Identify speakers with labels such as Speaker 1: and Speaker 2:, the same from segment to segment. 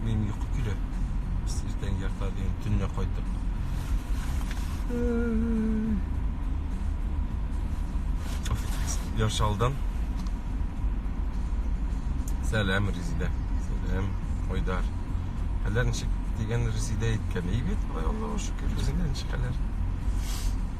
Speaker 1: Минем йокы килә. Иртән ярта дигән төнлә кайтып. Яршалдан. Сәлам, Резидә. Сәлам, Айдар. Хәлләр ничек дигән Резидә әйткән. Әйбәт, Аллаһуга шөкер, үзеңә ничек хәлләр?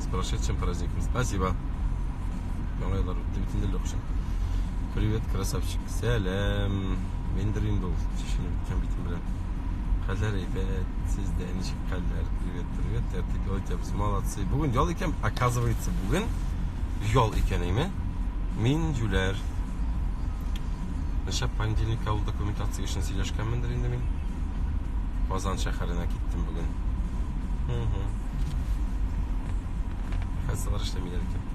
Speaker 1: С прошедшим праздником. Спасибо. Яңа еллар үтте битендә Лёкша. Привет, красавчик. Сәлам. Мендер инде ул. Чишенеп беткән битем белән. Хәлләр әйбәт. Сездә ничек хәлләр? Привет, привет. Тәртип ял итәбез. Молодцы. Бүген ял икән, оказывается, бүген ял икән име? Мин җүләр. Ничә понедельник авыл документация эшен сөйләшкәнмендер инде мин. Казан шәһәренә киттем бүген. Угу. Кассалар эшләмиләр икән.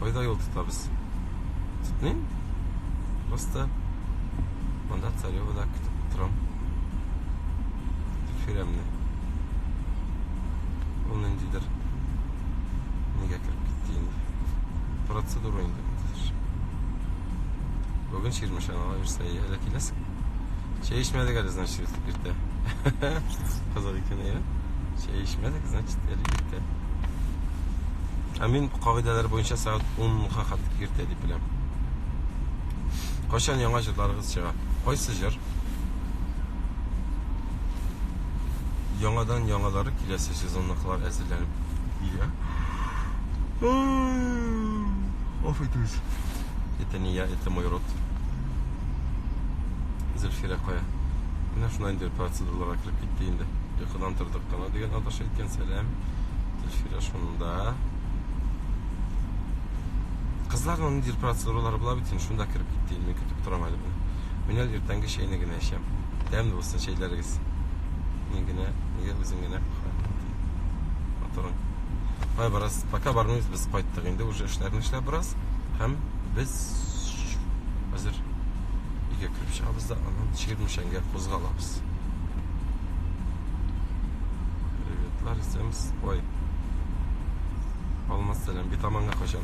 Speaker 1: Кайда юл тотабыз? Тотмыйм. Просто монда Царевода көтеп торам. Фиремне. Ул ниндидер нигә кереп китте инде. Процедура инде. Бүген Чирмешанга йөрсә, әллә киләсең? Чәй эчмәдек әле, значит, иртә. Кызык икән, әйе. Чәй эчмәдек, значит, әле иртә. Ә мин кагыйдәләр буенча сәгать 10-га хәтле иртә дип беләм. Кайчан яңа җырларыгыз чыга? Кайсы җыр? Яңадан яңалары киләсе сезонныкылар әзерләнеп килә. Оф итүз. Это не я, это мой рот. Зөлфирә кая? Менә шунда инде процедураларга кереп китте инде. Йокыдан тордык кына дигән аташы әйткән сәлам. Зөлфирә шунда. Кызларның нинди процедуралары була бит инде, шунда кереп китте инде. Мин көтеп торам әле буны. Мин әле иртәнге чәйне генә эчәм. Тәмле булсын чәйләрегез. Мин генә, нигә үзең генә Батырың. Ай, бераз пока бармыйбыз, без кайттык инде уже эшләрне эшләп бераз һәм без хәзер өйгә кереп чыгабыз да аннан Чирмешәнгә кузгалабыз. Приветлар исәмс. Ой. Алмаз сәлам, битаманга качан?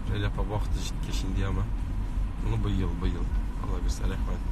Speaker 1: Рәйләпә вакыты җиткәч инде яма. Ну, быел, быел. Алла бирсә, рәхмәт.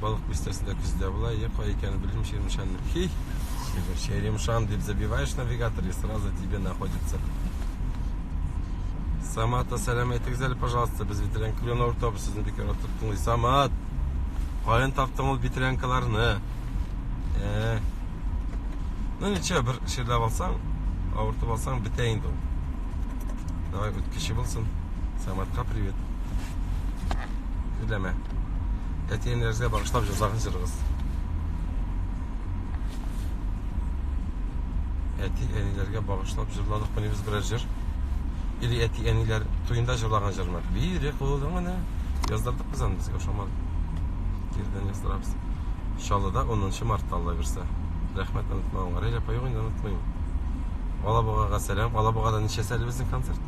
Speaker 1: Балык бистәсендә көздә була, я кай икәнен белмим, Черемшан. Хи! Черемшан дип забиваешь навигатор, и сразу тебе находится. Самата, сәлам әйтегез әле, пожалуйста, без бетерән клен автобус сезне бик ярат тоттыңыз. Самат! Каян таптың ул бетерәнкаларны? Э. Ну ничего, бер ширләп алсаң, авыртып алсаң бетә инде ул. Давай, үткече булсын. Саматка привет. Өйләмә. Әтиенләргә багышлап җырлаган җырыгыз. Әти әниләргә багышлап җырладык мени без берәр җыр. Или әти әниләр туенда җырлаган җырмы? Бире кулыңны яздырдык без аны безгә ошамады. Кирдән яздырабыз. Чаллыда 10 мартта алла бирсә. Рәхмәт онытмаган. Рәҗәп аюгын онытмыйм. Алабугага сәлам. Алабугада ничә сәле безнең концерт?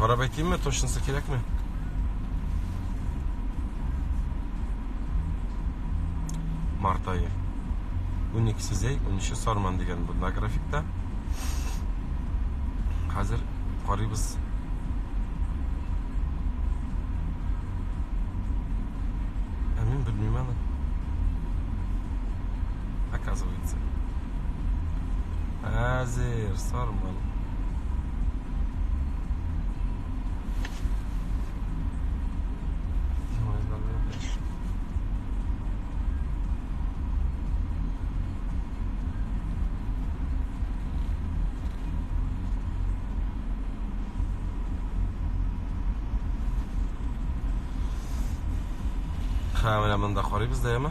Speaker 1: Карап әйтимме, точносы кирәкме? Март айы. 12 сезей, 13 сарман дигән бунда графикта. Хәзер карыйбыз. Ә мин белмим аны. Оказывается. Әзер, сарман. Хәмелә монда карыйбыз да, яме?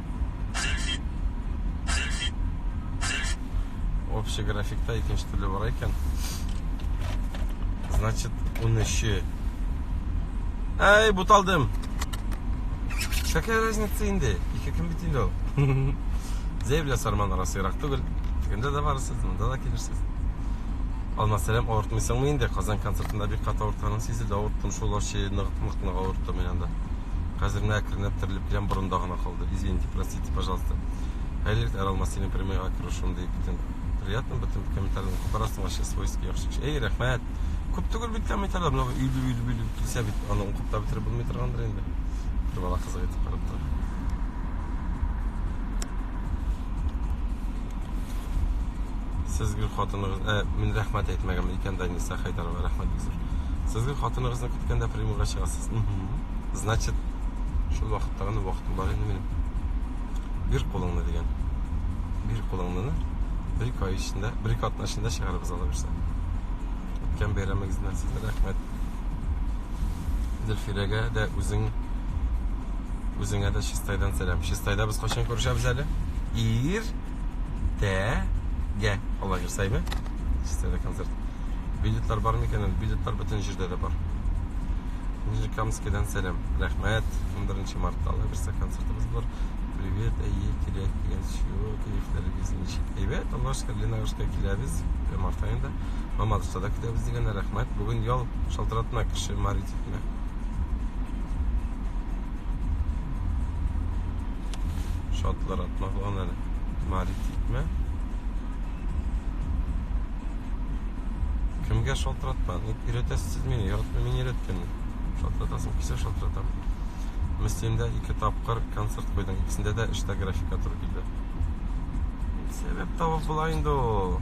Speaker 1: Общий графикта икенче төрле бара икән. Значит, 13. Әй, буталдым. Какая разница инде? Ике кем бит инде ул. Зәйбля сарман арасы ерак түгел. Тегендә дә барысыз, монда да килерсез. Алмасәләм авыртмыйсыңмы инде? Казан концертында бик кат авыртканың сизелде. Авырттым шул ачы, нык-нык авырттым мин анда. Хәзер менә әкренләп терелеп киләм, борында гына калды. Извините, простите, пожалуйста. Хәерлек Әрал Масинин прямыйга керүшем ди битен. Приятно битен комментарийны күп арасың вообще свойский яхшы кеше. Эй, рәхмәт. Күп түгел бит комментарийлар, менә өйле өйле өйле килсә бит, аны укып та бетереп булмый торгандыр инде. Бер бала кызык итеп карап тора. Сез гел хатыныгыз, ә, мин рәхмәт әйтмәгән икән Даниса. Фәтиха Хәйдарова, рәхмәт безгә. Сезгә хатыныгызны көткәндә приемга чыгасыз. Значит, шул вакытта гына вакытым бар инде минем. Бир кулыңны дигән. Бир кулыңны бер ике ай эчендә, бер ике атна эчендә чыгарыбыз ала бирсә. Үткән бәйрәмегезннән сезгә рәхмәт. Зөлфирәгә дә үзең үзеңә дә чистайдан сәлам. Чистайда без кайчан күрешәбез әле? Ир Тә, гә, алла керсә име? Стелла концерт. Билетлар бар микән? Билетлар бөтен җирдә дә бар. Нижнекамскидан сәлам. Рәхмәт. 11 мартта алла керсә концертыбыз бар. Привет, әйе, кирәк дигән чего, кирәкләрегез ничек? Әйбәт, алла шөкер, Ленагышка киләбез, март аенда. Мамадышта да көтәбез дигән рәхмәт. Бүген ял шалтыратма кеше Маритикне. Шатлар атлаган әле. Мари тикмә. Кемгә шалтыратма? Ник өйрәтәсез мине? Яратмый мин өйрәткәнне. Шалтыратасың, кисә шалтыратам. Мөслимдә ике тапкыр концерт куйдың. Икесендә дә эштә графика туры килде. Сәбәп табып була инде ул.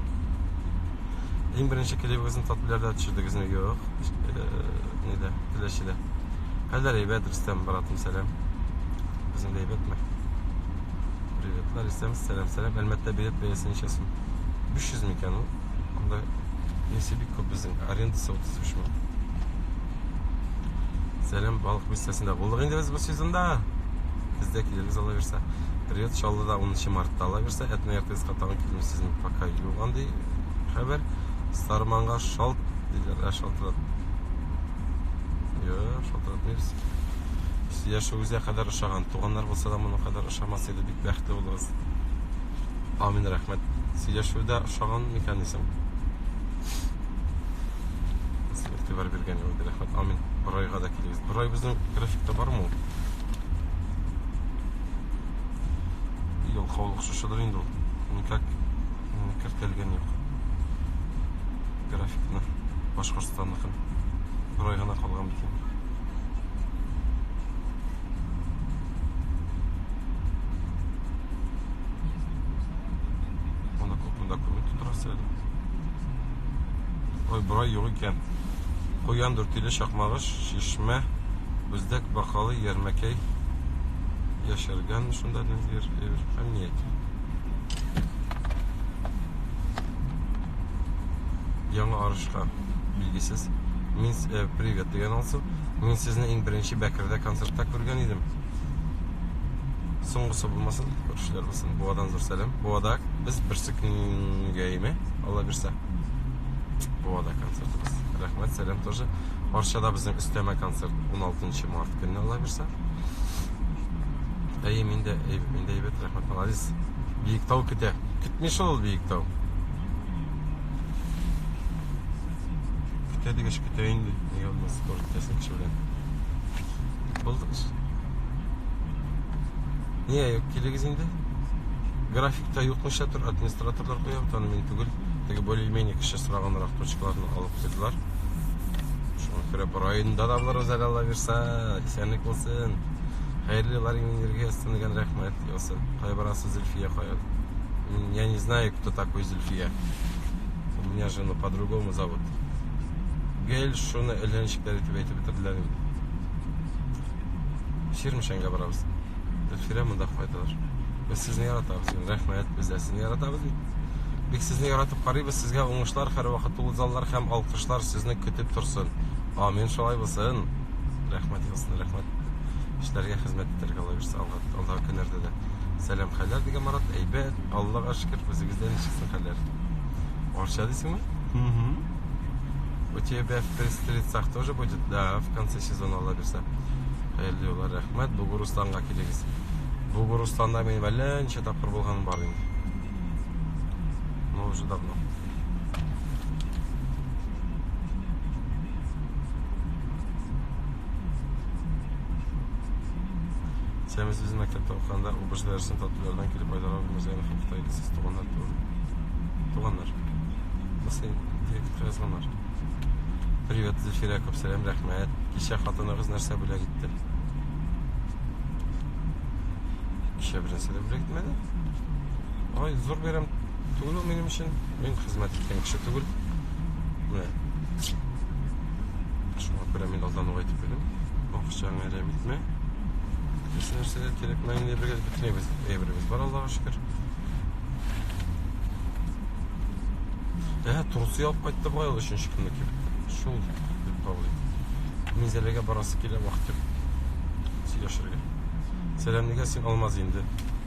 Speaker 1: Иң беренче клибыгызны татбиләрдә төшердегезме? Юк. Э, Нидә? Теләчедә. Хәлләр әйбәт, Рөстәм, братым, сәлам. Безнең әйбәтме? Приветлар, Рөстәм, сәлам, сәлам. Әлмәттә билет бәясе ничә сум? 500 микән ул? Анда несе бик күп безнең, арендасы 35 мең. Сәлам, балык бистәсендә булдык инде без бу сезонда. Бездә килегез ала бирсә. Привет, Чаллыда 10 мартта ала бирсә, әтнә ертыгызга тагын килдем сезнең пока юк андый хәбәр. Старманга шалт диләр, ә шалтырат. Йо, шалтыратмыйбыз. Сия шугызя кадәр ошаган. Туганнар булса да моның кадәр ошамас иде. Бик бәхетле булыгыз. Амин, рәхмәт. Сия шуда ошаган микән исем? Сез игътибар биргән юлда рәхмәт. Амин. Борайга да килегез. Борай безнең графикта бармы ул? Ел каулык шушыдыр инде ул. Никак кертелгән юк. Графикны Башкортстанныкын бер ай гына калган бит инде. Монда күп монда күреп торасы әле. Ой, бер ай юк икән. Куян дүртиле чакмагыш, чишмә, бүздәк бакалы, ярмәкәй яшәргән шунда нәзир, әмният. Яңа арышка билгесез. Мин э, привет дигән алсу. Мин сезне иң беренче Бәкердә концертта күргән идем. Соңгысы булмасын, күршеләр булсын. Буадан зур сәлам. Буада без берсе көнгә име, Алла бирсә. Буада концертыбыз. Рәхмәт, сәлам тоже. Арчада безнең өстәмә концерт 16 март көнне Алла бирсә. Әйе, мин дә әйбәт, мин дә әйбәт, рәхмәт, молодец. Биектау көтә. Көтми шул ул Биектау. Көтә дигәч көтә инде. Нигә булмас, тоже көтәсең кеше белән. Булдык эш. Нигә юк, килегез инде. Графикта юкмыша тор, администраторлар куя, вот аны мин түгел. Теге более-менее кеше сораганрак точкаларны алып куйдылар. Шуңа күрә бу районда да булырбыз әле, Алла бирса, исәнлек булсын. Хәерле Ларин энергиясына дигән рәхмәт ясы. Кая барасы Зөлфия кая? Я не знаю, кто такой Зөлфия. У меня же ну по-другому зовут. Гел шуны эләнчекләр итеп әйтеп бетерделәр инде. Ширмешәнгә барабыз. Зөлфия монда кайталар. Без сезне яратабыз. Рәхмәт, без дә сезне яратабыз. Бик сезне яратып карыйбыз. Сезгә уңышлар, һәрвакыт тулы заллар һәм алкышлар сезне көтеп торсын. Амин, шулай булсын. рәхмәт егылсын рәхмәт эшләргә хезмәт итәргә алла бирсә алга алда көннәрдә дә сәлам хәлләр дигән марат әйбәт аллага шөкер үзегездә ничексең хәлләр арча дисеңме у тебя в пристрицах тоже будет да в конце сезона алла бирсә хәерле юллар рәхмәт бугурустанга килегез бугурустанда минем әллә ничә тапкыр булганым бар инде но уже давно Сәміз без мәктәптә укыганда убыш дәресен татулардан килеп айдарабыз ягы һәм Кытай кесез туганнар тур. Туганнар. Басый, директор язганнар. Привет, Зефира, күп сәлам, рәхмәт. Кичә хатыныгыз нәрсә бүләк итте? Кичә беренче дә бүләк итмәде. Ай, зур бәйрәм Түгел ул минем өчен. Мин хезмәт иткән кеше түгел. Менә. Шуңа күрә мин алдан ук әйтеп куйдым. Акчаңа әрәм итмә. Исә нәрсә дә кирәкмәй инде бергә бөтенебез. Әйберебез бар Аллага шөкер. Ә, трусы алып кайтты бугай ул өченче көнне килеп. Шул дип кабул итте. Мин Зәләгә барасы килә вакыт юк. Сөйләшергә. Сәламлегә син алмаз инде.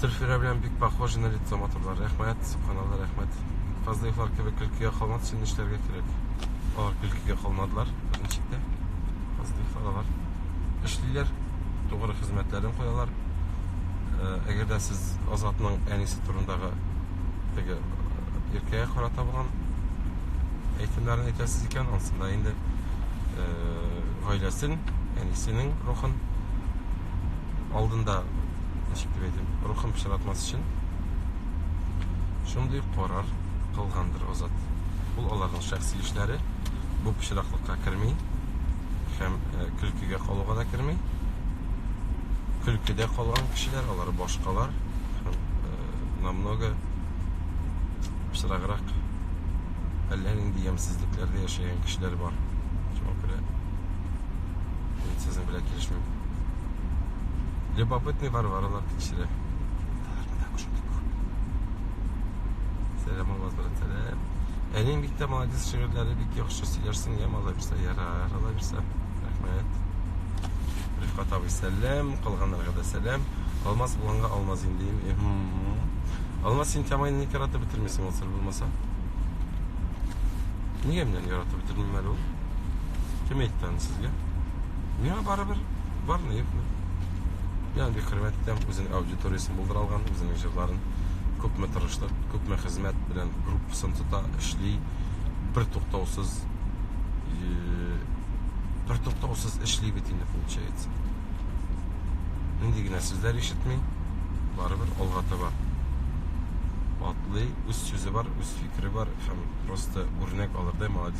Speaker 1: Зөлфирә белән бик похожи на лицо матурлар. Рәхмәт, субханалла, рәхмәт. Фазлыевлар кебек көлкегә калмас өчен нишләргә кирәк? Алар көлкегә калмадылар, беренчектә. Фазлыевлар алар эшлиләр, тугры хезмәтләрен куялар. Э, әгәр дә сез Азатның әнисе турындагы теге э, иркәгә карата булган әйтемнәрен әйтәсез икән, анысында инде э, гаиләсен, әнисенең рухын алдында ничек дип әйтим рухын пычратмас өчен шундый карар кылгандыр азат ул аларның шәхси эшләре бу пычраклыкка керми һәм э, көлкегә калуга да керми көлкедә калган кешеләр алар башкалар һәм э, намного пычраграк әллә нинди ямьсезлекләрдә яшәгән кешеләр бар шуңа күрә Мин сезнең белән килешмим. Любопытный Варваралар тикшерә. Сәлам Алмаз брат, сәлам. Әнең бик тә молодец, шигырьләре бик яхшы сөйләрсең, я мала бирсә, ярар, ала бирсә. Рәхмәт. Рифкат абый, сәлам, калганнарга да сәлам. Алмаз булганга алмаз инде. Алмаз син тәмайны ник яратып бетермисең, ул сер булмаса? Нигә менә яратып бетермим әле ул? Кем әйтте аны сезгә? Миңа барыбер бармы, юкмы? Мин аны бик хөрмәт итәм, үзенең аудиториясен булдыра алган, үзенең җырларын күпме тырышлык, күпме хезмәт белән группасын тота, эшли, бер туктаусыз бер туктаусыз эшли бит инде получается. Нинди генә сүзләр ишетми, барыбер алга таба атлый, үз сүзе бар, үз фикере бар һәм просто үрнәк алырдай молодец.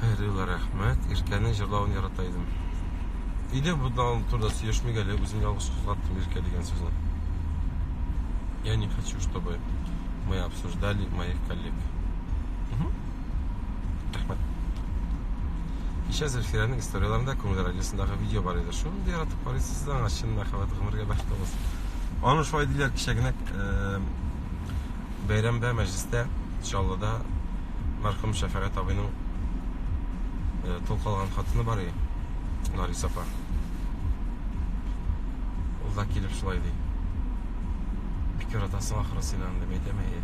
Speaker 1: Хәйрилла, рәхмәт. Иркәнең җырлавын ярата идем. Иде будан турда сөйләшмик әле, үзем ялгыш кузгаттым Иркә дигән сүзне. Я не хочу, чтобы мы обсуждали моих коллег. Рәхмәт. Кичә Зөлфирәнең историяләрендә күңел радиосындагы видео бар иде. Шуны да яратып карыйсыз да, чын мәхәббәт гомергә бәхет булсын. Аны шулай диләр кичә генә э, Бәйрәмдә, мәҗлестә, Чаллыда мәрхүм Шәфәгать абыйның э, тол калган хатыны бар иде, Нарис апа. Ул да килеп шулай ди. Бик яратасың ахры син аны, дип әйтәм, әйе.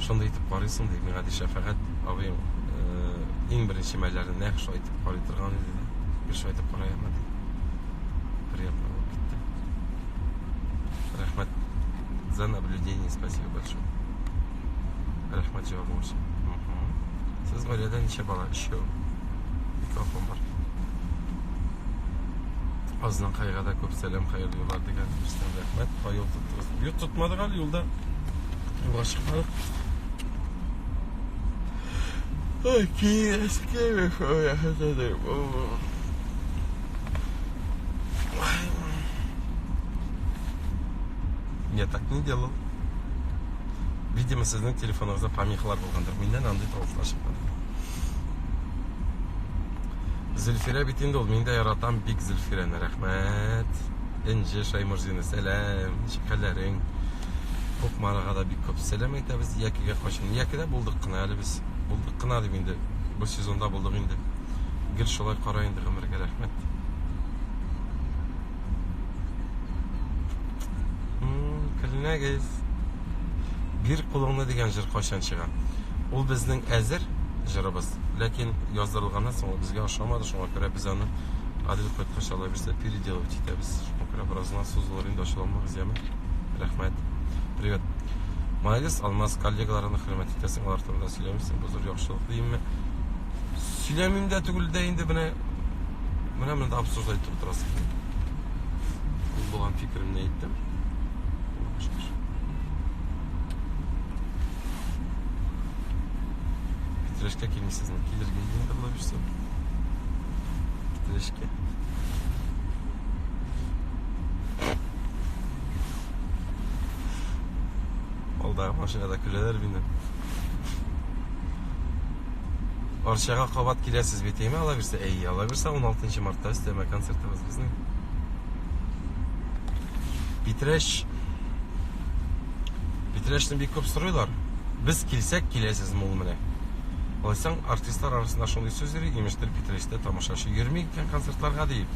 Speaker 1: Шундый итеп карыйсың, ди, миңа ди Шәфәгать абыең э, иң беренче мәлләрне нәкъ шулай итеп карый торган иде. Бер шулай итеп караема ди. Приятно булып китте. Рәхмәт за наблюдение, спасибо большое. Рәхмәт җавабың өчен. Сез гаиләдә ничә бала? Өчәү. Ике апам бар. Азның кайга да күп сәлам, хәерле юллар дигән берсен рәхмәт. Кай юл тоттыгыз? Юл тотмадык әле юлда. Юлга чыкмадык. Ой, кире, кире, ой, ахатадыр. Я так не делал. Видимо, сезнең телефоныгызда помехалар булгандыр. Миннән андый тавышлар чыкмады. Зөлфирә бит инде ул. Мин дә яратам бик Зөлфирәне. Рәхмәт. Энҗе Шаймурзина, сәлам. Ничек хәлләрең? Кукмарага да бик күп сәлам әйтәбез. Якигә кайчан? Якидә булдык кына әле без. Булдык кына дип инде. Бу сезонда булдык инде. Гел шулай караем. итте гомергә рәхмәт көлмәгез бир кулыңны дигән җыр кайчан чыга ул безнең әзер җырыбыз ләкин яздырылганнан соң ул безгә ошамады шуңа күрә без аны Адел кайткач алай берсе переделывать итәбез. Шуңа күрә беразына сузылыр инде ачуланмагыз, яме. Рәхмәт. Привет. Молодец, Алмаз, коллегаларны хөрмәт итәсең, алар турында сөйләмисең, бу зур яхшылык димме? Сөйләмим дә түгел дә инде менә менә монда обсуждать итеп утырасың. Мин булган фикеремне әйттем. Питрәшкә килмисез, килергә инде була бирсә. Питрәшкә. Алда машинада көләләр мине. Арчага кабат киләсез бит, әйме, ала бирсә? Әй, ала бирсә 16 мартта өстәмә концертыбыз безнең. Питрәш Питрәшне бик күп сорыйлар. Без килсәк, киләсез мул менә. Алайсаң, артистлар арасында шундый сүз йөри, имештер Питрәштә тамашачы йөрми икән концертларга диеп.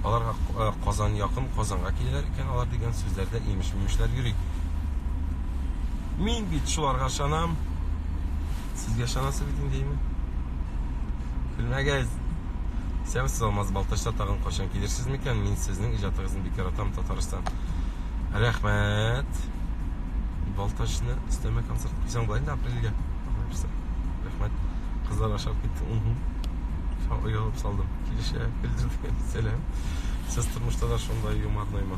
Speaker 1: Аларга э, Казан якын, Казанга киләләр икән алар дигән сүзләрдә имеш-мимешләр йөри. Мин бит шуларга ышанам. Сезгә ышанасы бит инде име? Күрмәгез. Сәбез сез алмаз балтачта тагын качан килерсез микән? Мин сезнең иҗатыгызны бик яратам, Татарстан. Рәхмәт. Балтачны өстәмә концерт куйсаң була инде апрельгә. Рәхмәт. Кызлар ашап китте. Шау оялып салдым. Килешә, көлдердем. Сәлам. Сез тормышта да шундай юморноймы?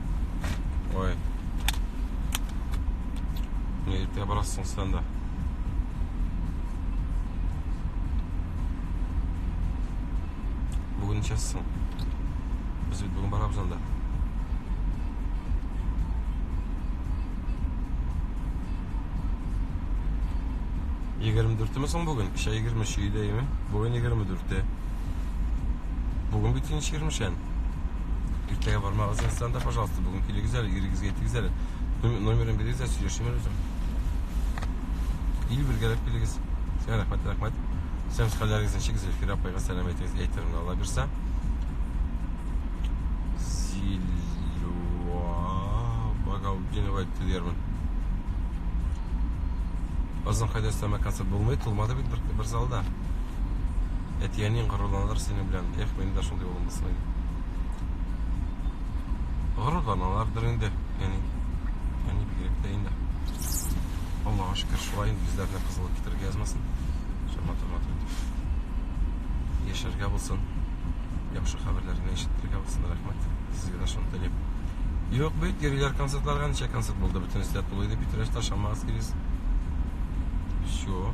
Speaker 1: Ой. Не дип тә барасың сен дә. Бүген чассың. Без бит бүген барабыз анда. Егерме дүртеме соң бүген? Кичә егерме өче идеме? Бүген егерме дүрте. Бүген бит инеш егермешән. Иртәгә бармагыз инстанда, пожалуйста, бүген килегез әле, ирегезгә әйтегез әле. Номерын бирегез дә сөйләшим әле үзем. Ил бергәләп килегез. Сәлам, рәхмәт, рәхмәт. Сәм хәлләрегезне чигез, Эльфира апайга сәлам әйтегез, әйтермен, Алла бирсә. Зилюа Багаудинова әйтте диярмен. Азан кайда өстәмә концерт булмый, тулмады бит бер, бер залда. Әтиәнең горурланыр синең белән. Эх, мин дә шундый булган саен. Горурланалардыр инде, әни. Әни бигрәк тә инде. Аллаһа шөкер, шулай инде үзләренә кызыллык китерергә язмасын. Шама тормады. Яшәргә булсын. Яхшы хәбәрләрне ишетергә булсын, рәхмәт. Сезгә дә шуны телим. Юк бит, йөриләр концертларга, ничә концерт булды, бөтенесе дә тулы иде, Питрәштә, Шаммагас килес. Все.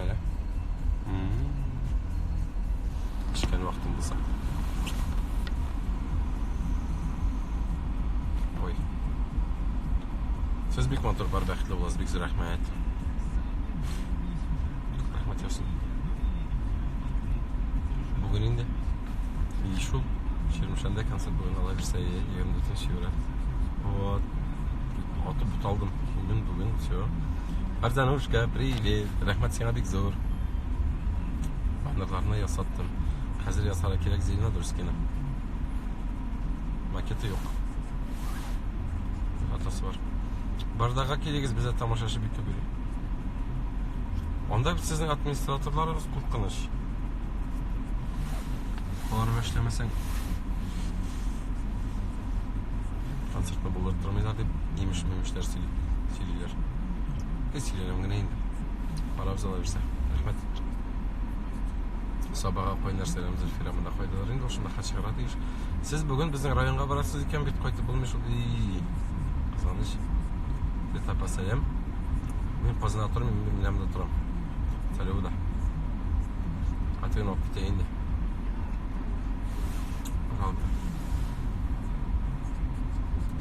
Speaker 1: Әле. Пешкән вакытым булса. Ой. Сез бик матур бар бәхетле буласыз, бик зур рәхмәт. Рәхмәт ясың. Бүген инде. И шул. Чирмешәндә концерт бүген алабыз, 24 февраль. Вот. Атып буталдым. Килдем бүген, все. Барзанушка, привет. Рәхмәт сиңа бик зур. Баннерларны ясаттым. Хәзер ясарга кирәк Зелена Дурскина. Макеты юк. Атасы бар. Бардага килегез, бездә тамашачы бик күп. Анда сезнең администраторларыгыз куркыныч. Алар эшләмәсәң концертны булдырмыйлар дип имеш мимешләр сөйлиләр Без сөйләнәм генә инде карап ала бирсә рәхмәт сабага кайнар сәлам зөлфирә монда кайдалар инде шунда хат чыгарга тиеш сез бүген безнең районга барасыз икән бит кайтып булмый шул кызганыч бет апа сәлам мин казанда торам мин миләмдә торам сәләвда атыйын алып китә инде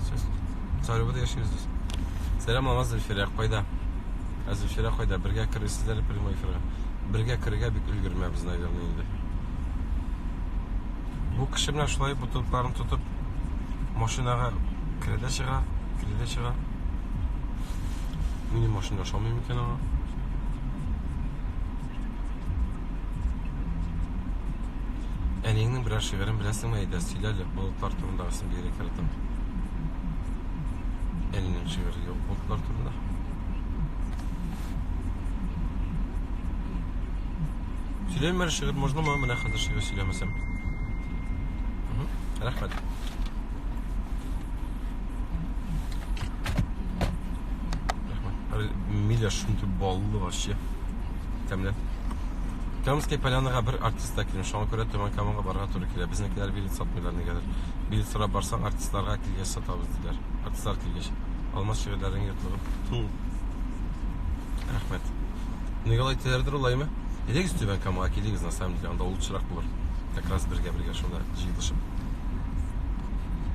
Speaker 1: Сез Царевода яшисез. Сәлам аңа Зөлфирә, кайда? Ә Зөлфирә кайда? Бергә кересез әле прямой эфирга. Бергә керергә бик өлгермәбез, наверное, инде. Бу кеше менә шулай бутылкаларын тотып машинага керә дә чыга, керә дә чыга. Минем машинада ошамый микән аңа? Әниеңнең берәр шигырен беләсеңме, әйдә, сөйлә әле, болытлар турындагысын бигрәк яратам. Әнинең шигыре юк болытлар турында. Сөйләйме әле шигырь, можнамы? Менә хәзер шигырь сөйләмәсәм. Рәхмәт. Миля шундый баллы вообще. Тәмле. Камская полянаға бер артистта килем. Шуңа күрә Төмән Каманга барырга туры килә. Безнекеләр билет сатмыйлар нигәдер. Билет сорап барсаң, артистларга килгәч сатабыз диләр. Артистлар килгәч. Алмаз шигырьләрең йотлыгып. Рәхмәт. Николай Телердер улаймы? Элегез Төмән Камага килегез, на самом деле, анда лучшерак булыр. Как раз бергә-бергә шунда җыелышып.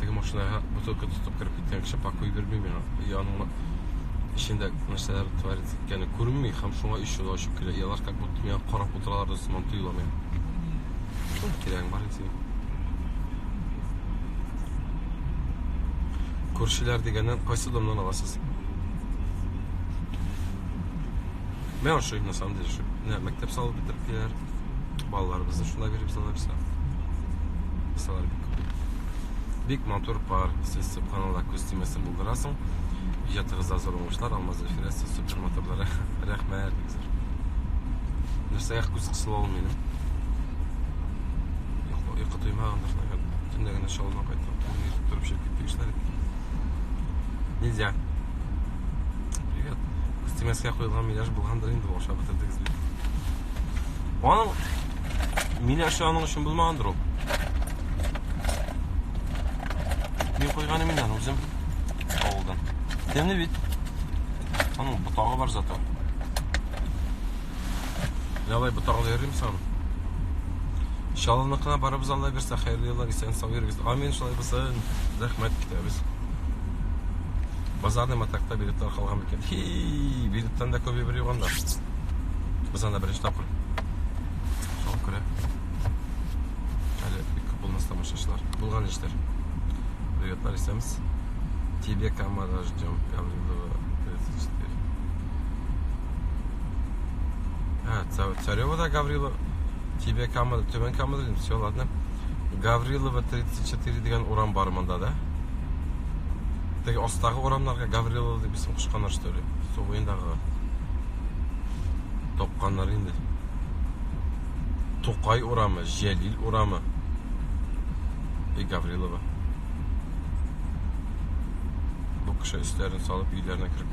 Speaker 1: теге машинаға бутылка тотып кереп киткән кеше пакуй бирмей миңа яныңа эчендә нәрсәләр творится икәнен күренми һәм шуңа ишек ачып килә и алар как будто миңа карап утыралар да сыман тоела миңа кирәгең бар инде күршеләр дигәннән кайсы домнан аласыз мен ошый на самом деле ошый менә мәктәп салып бетереп киләләр балаларыбызны шулай биреп салырса кысалар бик күп бик матур пар сез субханалла күз тимәсен булдырасың иҗатыгызда зур уңышлар алмаз зөлфирә сез супер матурлары рәхмәт нәрсәгә күз кысыла ул минем йокы туймагандыр наверное төнлә генә шалдан кайттым торып чыгып китте кешеләр нельзя Привет. Стимәскә куелган миляш булгандыр инде, ашап бетердегез бит. Аның миляшы аның өчен булмагандыр ул. Мин куйганы миннән үзем авылдан. Тәмле бит. Аның ботагы бар зато. Давай ботагыңны йөрим сон. Чалыныкына барыбыз Алла бирсә хәерле еллар исән сау йөрегез. Амин шулай булсын. Рәхмәт китәбез. Базарный матакта билетлар калган микән? Хи, билеттан да күбе бер юганда. Без анда беренче тапкыр. Шуңа күрә. Әле бик күп булмас тамашачылар. Булган эшләр. Приветлар исәмез. Тебе камара ждем. Гаврилова 34. А, Царева, да, Гаврилова. Тебе Камада, Түбән Камада дим. Все, ладно. Гаврилова 34 дигән урам бар монда, да? Теге астагы урамнарга Гаврилова дип исем кушканнар, что ли? Су буендагы. Топканнар инде. Тукай урамы, Җәлил урамы. И Гаврилова. Бу кеше өсләрен салып өйләренә кереп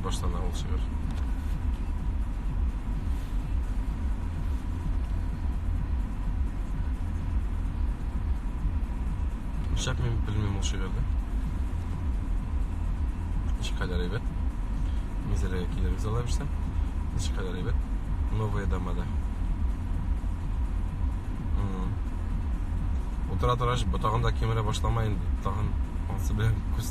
Speaker 1: башлана ул шигырь. Шәп мин белмим ул шигырьне. Ничкадәр әйбәт. Мизәләгә килербез алла бирсә. Ничкадәр әйбәт. Новые дома да. Утыра торгач, ботагын да кимерә башлама инде. Тагын ансы белән күз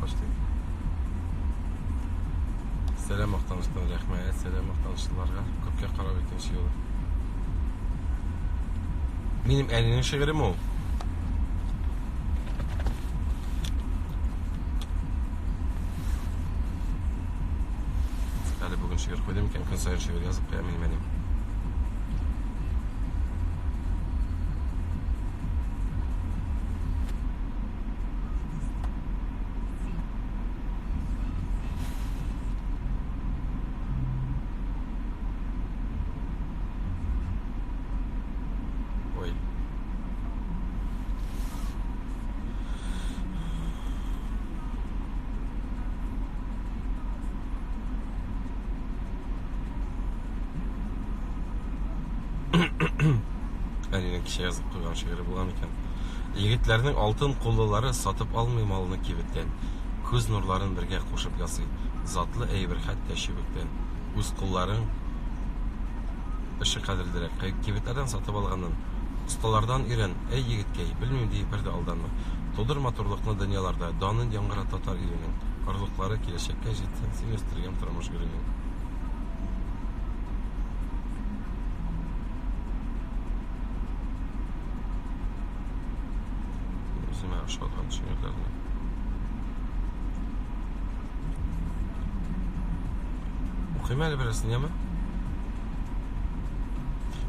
Speaker 1: Почти. Сәлам Мактаныштан рәхмәт, сәлам Мактанышлыларга. Күпкә карап икенче юлы. Минем әнинең шигырем ул. Әле бүген шигырь куйдым икән, көн саен шигырь язып куям инде минем. Әлинең кичә язып куйган шигыре булган икән. Егетләрнең алтын куллылары сатып алмый малны кибеттән, күз нурларын бергә кушып ясый. Затлы әйбер хәтта чүбектән. Үз кулларың эше кадерлерәк. Кибетләрдән сатып алганын осталардан өйрән, әй егеткәй, белмим ди, бер дә алданма. Тудыр матурлыкны дөньяларда, данын яңгырат татар иленең. Орлыклары киләчәккә җитсен, син үстергән тормыш гөленең. Үземә ошаган шигырьләрне. Укыйм әле берәрсен, яме?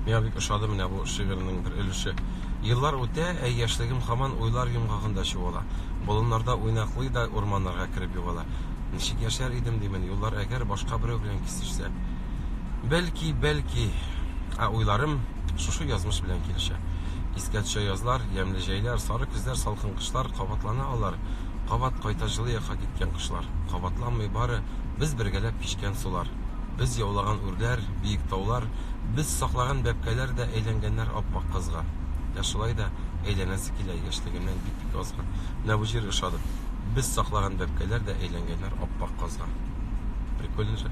Speaker 1: Миңа бик ошады менә бу шигырьнең бер өлеше. Еллар үтә, ә яшьлегем хаман уйлар йомгагында чуала. Болыннарда уйнаклый да урманнарга кереп югала. Ничек яшәр идем димен, юллар әгәр башка берәү белән кисешсә. Бәлки, бәлки, ә уйларым шушы язмыш белән килешә. Искә төшә язлар, ямьле җәйләр, сары көзләр, салкын кышлар, кабатлана алар. Кабат кайта җылы якка киткән кышлар. Кабатланмый бары без бергәләп кичкән сулар. Без яулаган үрләр, биек таулар, без саклаган бәбкәләр дә әйләнгәннәр ап-ак кызга. Ә шулай да әйләнәсе килә яшьлегемнән бик-бик азга. Менә бу җыр ошады. Без саклаган бәбкәләр дә әйләнгәннәр ап-ак казга. Прикольно же.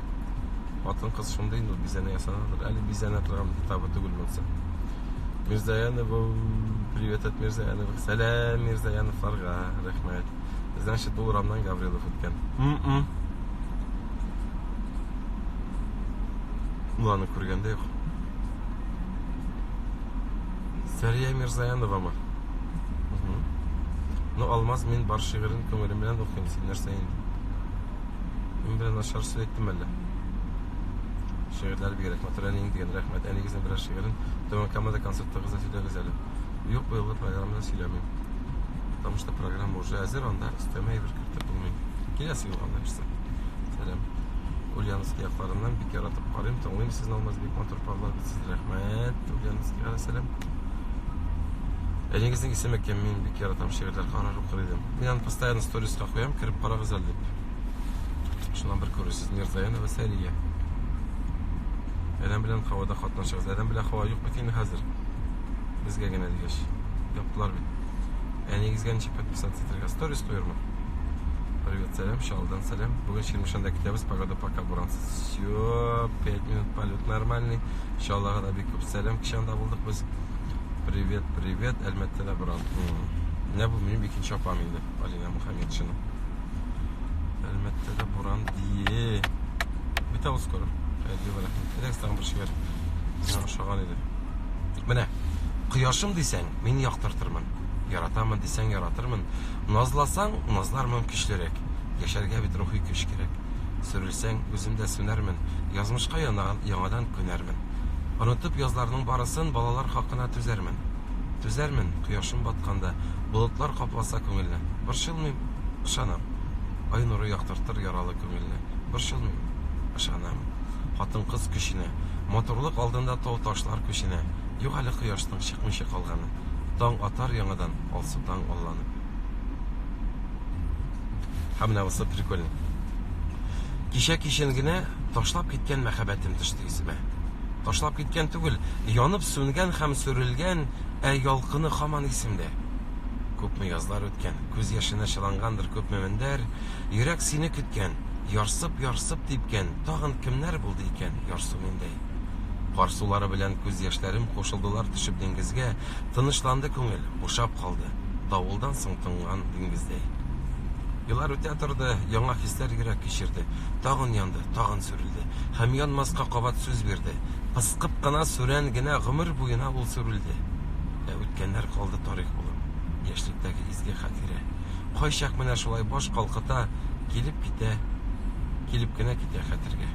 Speaker 1: Хатын кыз шундый инде бизәнә ясанаdır. Әле бизәнә торган табы түгел булса. Мирзаянова, привет от Мирзаянова. Сәлам Мирзаяновларга, рәхмәт. Значит, бу урамнан Гаврилов үткән. М-м. Уланы күргәндә юк. Сәрия Мирзаяновамы? Ну, Алмаз, мин бар шигырен күңелем белән укыйм, син нәрсә инде? Мин белән начар сүз әйттем әллә? Шигырьләр бигрәк матур әниең дигән рәхмәт. Әнигезнең берәр шигырен Түбән Камада концертыгызда сөйләгез әле. Юк, быелгы программада сөйләмим. Потому что программа уже әзер, анда өстәмә әйбер кертеп булмый. Киләсе юлга берсе. Сәлам. Ульяновск якларыннан бик яратып карыйм, тыңлыйм сезне Алмаз бик матур парлар бит сез. Рәхмәт. Ульяновскига сәлам. Әнигезнең исеме кем? Мин бик яратам шигырьләр карар укыр идем. Мин аны постоянно сториска куям, кереп карагыз әле дип. Шуннан бер күрерсез Мирзаянова Сәрия. Әрәм белән һавада катнашыгыз. Әрәм белән һава юк бит инде хәзер. Безгә генә дигәч. Яптылар бит. Әнигезгә ничек подписаться итәргә? Сторис куярмын. Привет, сәлам, Шалдан сәлам. Бүген Ширмешанда көтәбез. Погода пока бурансыз. Все, 5 минут полет нормальный. Чаллага да бик күп сәлам кеше анда булдык без. Привет, привет, Әлмәттәдә брат. Менә бу минем икенче апам инде, Алина Мухаммедшина. Әлмәттәдә буран дие. Бит авыз скоро. Әйдә бара. Әйдәгез тагын бер шигырь. Миңа ошаган иде. Менә, кояшым дисәң, мин яктыртырмын. Яратамын дисәң, яратырмын. Назласаң, назлармын көчлерәк. Яшәргә бит рухи көч кирәк. Сәң, үзем дә сүнәрмен, Язмышка янаган яңадан күнәрмен. Онытып язларның барысын, Балалар хакына түзәрмен. Түзәрмен, кояшым батканда, Болытлар капласа күңелне. Борчылмыйм, ышанам. Ай нуры яктыртыр яралы күңелне. Борчылмыйм, ышанам. Хатын-кыз көченә, Матурлык алдында тау-ташлар күченә. Юк әле кояшның чыкмыйча калганы. Таң атар яңадан, алсу таң алланып. Һәм менә бусы прикольный. Кичә кичен генә ташлап киткән мәхәббәтем төште исемә. Ташлап киткән түгел, янып сүнгән һәм сүрелгән, ә ялкыны хаман исемдә. Күпме язлар үткән, күз яшенә чылангандыр күпме мендәр, йөрәк сине көткән, ярсып-ярсып типкән, тагын кемнәр булды икән ярсу миндәй. Кар сулары белән күз яшьләрем кушылдылар төшеп диңгезгә, тынычланды күңел, бушап калды, давылдан соң тынган диңгездәй. Еллар үтә торды, яңа хисләр йөрәк кичерде. Тагын янды, тагын сүрелде. Һәм янмаска кабат сүз бирде. Пыскып кына, сүрән генә гомер буена ул сүрелде. Ә үткәннәр калды тарих булып, яшьлектәге изге хатирә. Кайчак менә шулай баш калкыта, килеп китә, килеп кенә китә хәтергә.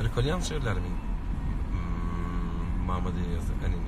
Speaker 1: Рекольян шигырьләре мин мамадыйыз әнинең.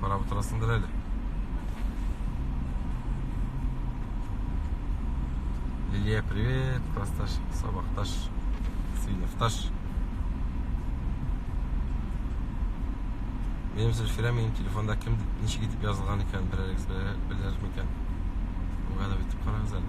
Speaker 1: Карап отырасыңдыр әле. Лилия, привет, классташ, сабақташ, сыйныфташ. Минем Зөлфирә минем телефонда кем ничек итеп язылган икән, берәрегез беләр микән? Угадап итеп карагыз әле.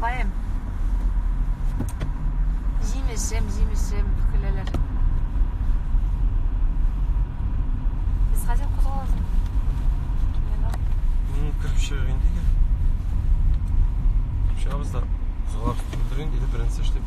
Speaker 1: Каем. Җимешем, җимешем, көләләр. Без хәзер кузгалабыз. Ну, кереп чыгыйк инде. Чыгабыз да. Кузгалабыз. Беренче эшләп.